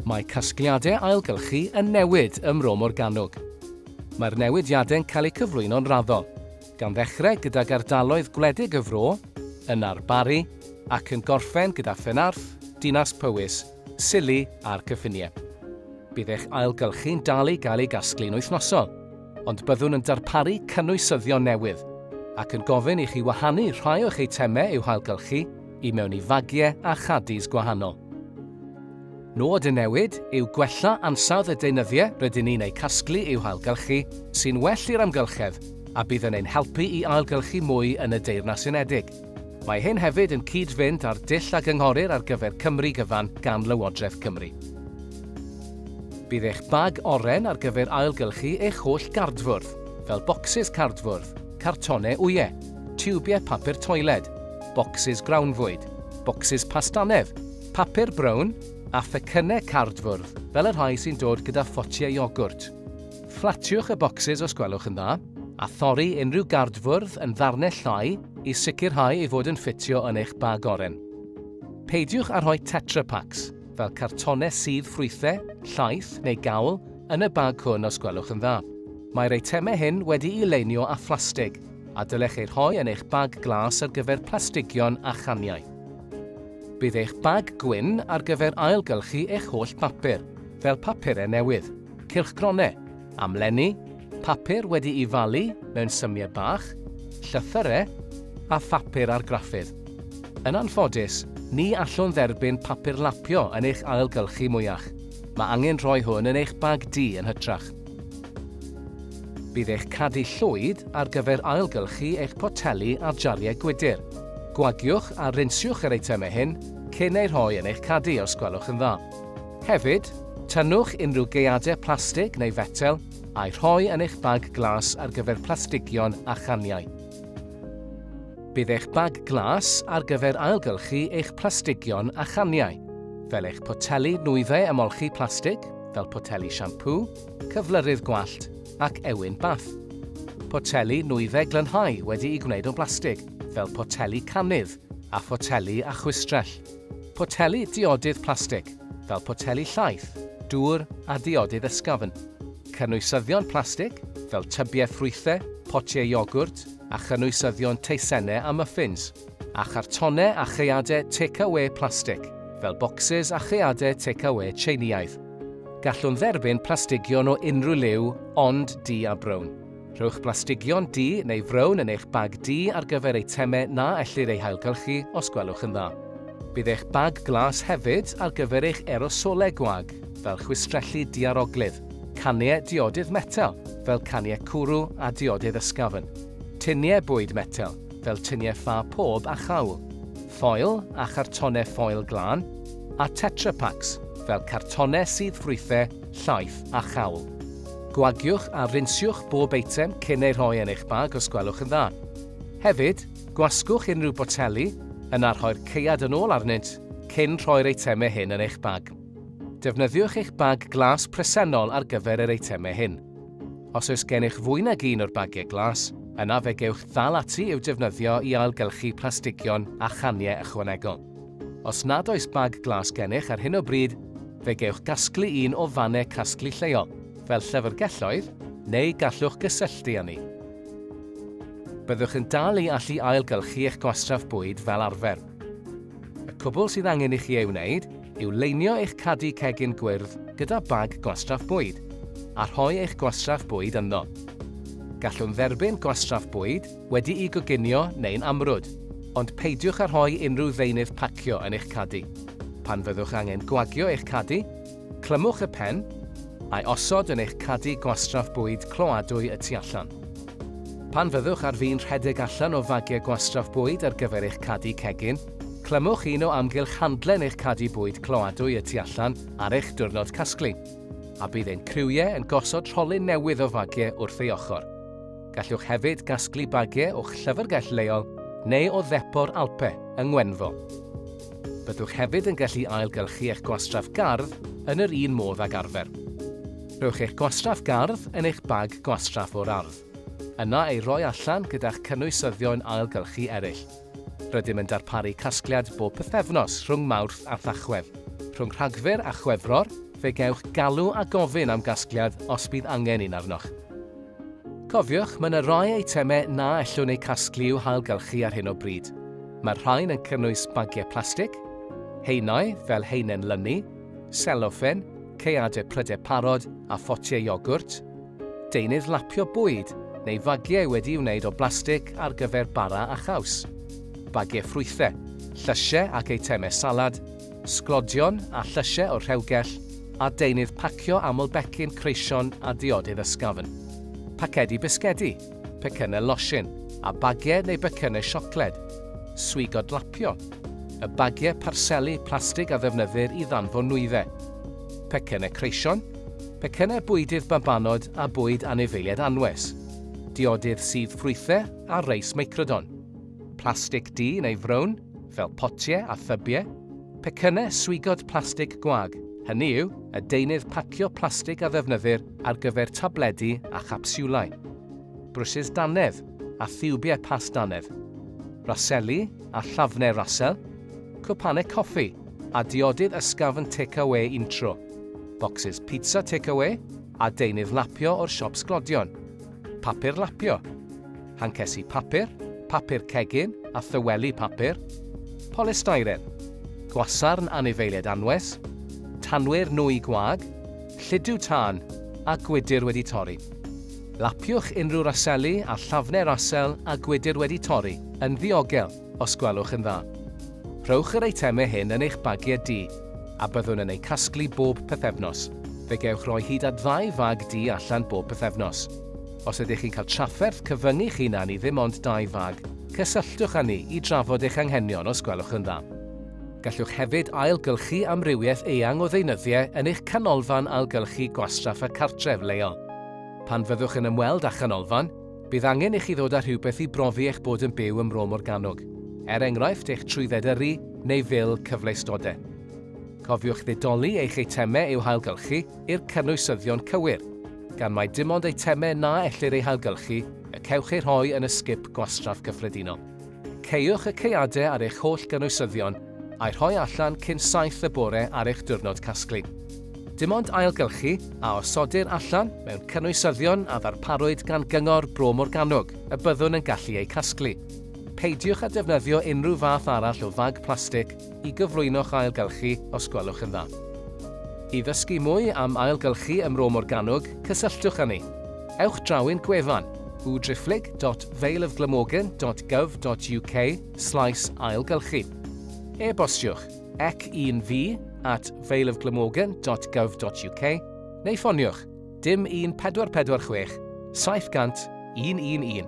Mae casgliadau ailgylchu yn newid ym Mro Morgannwg. Mae'r newidiadau'n cael eu cyflwyno'n raddol, gan ddechrau gydag ardaloedd gwledig y fro, yna'r Barri, ac yn gorffen gyda Phenarth, Dinas Powys syllu ar gyffiniau. Bydd eich ailgylchu'n dal i gael ei gasglu'n wythnosol, ond byddwn yn darparu cynwysyddion newydd ac yn gofyn i chi wahanu rhai o'ch eitemau i'w hailgylchu i mewn i fagiau a chaddies gwahanol. Nod y newid yw gwella ansawdd y deunyddiau rydyn ni'n eu casglu i'w hailgylchu, sy'n well i'r amgylchedd a bydd yn ein helpu i ailgylchu mwy yn y Deyrnas Unedig. Mae hyn hefyd yn cyd-fynd â'r dull a gynghorir ar gyfer Cymru gyfan gan Lywodraeth Cymru. Bydd eich bag oren ar gyfer ailgylchu eich holl gardfwrdd, fel bocsys cardfwrdd, cartonau wyau, tiwbiau papur toiled, bocsys grawnfwyd, bocsys pastanedd, papur brown, a phecynnau cardfwrdd fel y rhai sy'n dod gyda photiau iogwrt. Fflatiwch y bocsys os gwelwch yn dda, a thorri unrhyw gardfwrdd yn ddarnau llai i sicrhau ei fod yn ffitio yn eich bag oren. Peidiwch â rhoi Tetra Paks, fel cartonau sudd ffrwythau, llaeth neu gawl, yn y bag hwn os gwelwch yn dda. Mae'r eitemau hyn wedi'u leinio â phlastig, a dylech eu rhoi yn eich bag glas ar gyfer plastigion a chaniau. Bydd eich bag gwyn ar gyfer ailgylchu eich holl bapur, fel papurau newydd. cylchgronau, amlenni, papur wedi'i falu mewn symiau bach, llythyrau, a phapur argraffydd. Yn anffodus, ni allwn dderbyn papur lapio yn eich ailgylchu mwyach. Mae angen rhoi hwn yn eich bag du yn hytrach. Bydd eich cadi llwyd ar gyfer ailgylchu eich poteli a jariau gwydr. Gwagiwch a rinsiwch yr eitemau hyn cyn eu rhoi yn eich cadi os gwelwch yn dda. Hefyd, tynnwch unrhyw gaeadau plastig neu fetel a'u rhoi yn eich bag glas ar gyfer plastigion a chaniau. Bydd eich bag glas ar gyfer ailgylchu eich plastigion a chaniau, fel eich poteli nwyddau ymolchi plastig, fel poteli siampŵ, cyflyrydd gwallt ac ewyn bath. Poteli nwyddau glynhau wedi'u gwneud o blastig, fel poteli canydd a photeli a chwistrell. Poteli diodydd plastig, fel poteli llaeth, dŵr a diodydd ysgafn. Cynwysyddion plastig, fel tybiau ffrwythau, potiau iogwrt a chynwysyddion teisennau a muffins, a chartonau a chaeadau tecawê plastig, fel bocsys a chaeadau tecawê Tsieineaidd. Gallwn dderbyn plastigion o unrhyw liw ond du a brown. Rhowch blastigion du neu frown yn eich bag du ar gyfer eitemau na ellir eu hailgylchu, os gwelwch yn dda. Bydd eich bag glas hefyd ar gyfer eich erosolau gwag, fel chwistrelli diaroglyd, caniau diodydd metel, fel caniau cwrw a diodydd ysgafn, tuniau bwyd metel, fel tuniau ffa pob a chawl, ffoil a chartonau ffoil glân, a Tetra Paks, fel cartonau sydd ffrwythau llaeth a chawl. Gwagiwch a rinsiwch bob eitem cyn eu rhoi yn eich bag os gwelwch yn dda. Hefyd, gwasgwch unrhyw boteli, yna rhoi'r caead yn ôl arnynt cyn rhoi'r eitemau hyn yn eich bag. Defnyddiwch eich bag glas presennol ar gyfer yr eitemau hyn. Os oes gennych fwy nag un o'r bagiau glas, yna fe gewch ddal ati i'w defnyddio i ailgylchu plastigion a chaniau ychwanegol. Os nad oes bag glas gennych ar hyn o bryd, fe gewch gasglu un o fannau casglu lleol, fel llyfrgelloedd, neu gallwch gysylltu â ni. Byddwch yn dal i allu ailgylchu eich gwastraff bwyd fel arfer. Y cwbl sydd angen i chi ei wneud yw leinio eich cadi cegin gwyrdd gyda bag gwastraff bwyd, a rhoi eich gwastraff bwyd ynddo. Gallwn dderbyn gwastraff bwyd, wedi'i goginio neu'n amrwd, ond peidiwch â rhoi unrhyw ddeunydd pacio yn eich cadi. Pan fyddwch angen gwagio eich cadi, clymwch y pen, a'i osod yn eich cadi gwastraff bwyd cloadwy y tu allan. Pan fyddwch ar fin rhedeg allan o fagiau gwastraff bwyd ar gyfer eich cadi cegin, clymwch un o amgylch handlen eich cadi bwyd cloadwy y tu allan ar eich diwrnod casglu, a bydd ein criwiau yn gosod rholyn newydd o fagiau wrth ei ochr. Gallwch hefyd gasglu bagiau o'ch llyfrgell leol neu o ddepo'r Alpe yng Ngwenfro. Byddwch hefyd yn gallu ailgylchu eich gwastraff gardd yn yr un modd ag arfer. Rhowch eich gwastraff gardd yn eich bag gwastraff o'r ardd, yna ei roi allan gyda'ch cynwysyddion ailgylchu eraill. Rydym yn darparu casgliad bob pythefnos rhwng Mawrth a Thachwedd. Rhwng Rhagfyr a Chwefror, fe gewch galw a gofyn am gasgliad os bydd angen un arnoch. Cofiwch, mae yna rai eitemau na allwn eu casglu i'w hailgylchu ar hyn o bryd. Mae'r rhain yn cynnwys bagiau plastig, haenau fel haenen lynu, seloffen, caeadau prydau parod a photiau iogwrt, deunydd lapio bwyd neu fagiau wedi'i wneud o blastig ar gyfer bara a chaws, bagiau ffrwythau, llysiau ac eitemau salad, sglodion a llysiau o'r rhewgell, a deunydd pacio aml becyn creision a diodydd ysgafn. Pacedi bisgedi, pecynnau losin, a bagiau neu becynnau siocled. Swigo dlapio. Y bagiau parseli plastig a ddefnyddir i ddanfon nwyddau. Pecynnau creision, pecynnau bwydydd babanod a bwyd anifeiliaid anwes. Diodydd sudd ffrwythau a reis meicrodon. Plastig du neu frown, fel potiau a thybiau. Pecynnau swigod plastig gwag, hynny yw, y deunydd pacio plastig a ddefnyddir ar gyfer tabledi a chapsiwlau. Brwsys dannedd a thiwbiau past dannedd. Raseli a llafnau rasel. Cwpanau coffi a diodydd ysgafn tecawê untro. Bocsys pizza tecawê a deunydd lapio o'r siop sglodion. Papur lapio. hancesi papur, papur cegin a thyweli papur, polystyren, gwasarn anifeiliaid anwes, tanwyr nwy gwag, llidiw tân a gwydr wedi torri. Lapiwch unrhyw raseli a llafnau rasel a gwydr wedi torri yn ddiogel. os gwelwch yn dda. Rhowch yr eitemau hyn yn eich bagiau du, a byddwn yn eu casglu bob pythefnos. Fe gewch roi hyd at ddau fag du allan bob pythefnos. Os ydych chi'n cael trafferth cyfyngu'ch hunan i ddim ond dau fag, cysylltwch â ni i drafod eich anghenion os gwelwch yn dda. Gallwch hefyd ailgylchu amrywiaeth eang o ddeunyddiau yn eich canolfan ailgylchu gwastraff a cartref leol. Pan fyddwch yn ymweld â chanolfan, Bydd angen i chi ddod â rhywbeth i brofi eich bod yn byw ym Mro Morgannwg, er enghraifft eich trwydded yrru neu fil cyfleustode. Cofiwch ddidoli eich eitemau i'w hailgylchu i'r cynwysyddion cywir, gan mai dim ond eitemau na ellir eu hailgylchu y cewch eu rhoi yn y sgip gwastraff gyffredinol. Caewch y caeadau ar eich holl gynwysyddion a'u rhoi allan cyn saith y bore ar eich diwrnod casglu. Dim ond ailgylchu a osodir allan mewn cynwysyddion a ddarparwyd gan Gyngor Bro Morgannwg y byddwn yn gallu eu casglu. Peidiwch â defnyddio unrhyw fath arall o fag plastig i gyflwyno'ch ailgylchu os gwelwch yn dda. I ddysgu mwy am ailgylchu ym Mro Morgannwg, cysylltwch â ni. Ewch draw i'n gwefan, www.valeofglamorgan.gov.uk slaes ailgylchu. E-bostiwch ec un fi at valeofglamorgan.gov.uk neu ffoniwch dim 1446 700 111.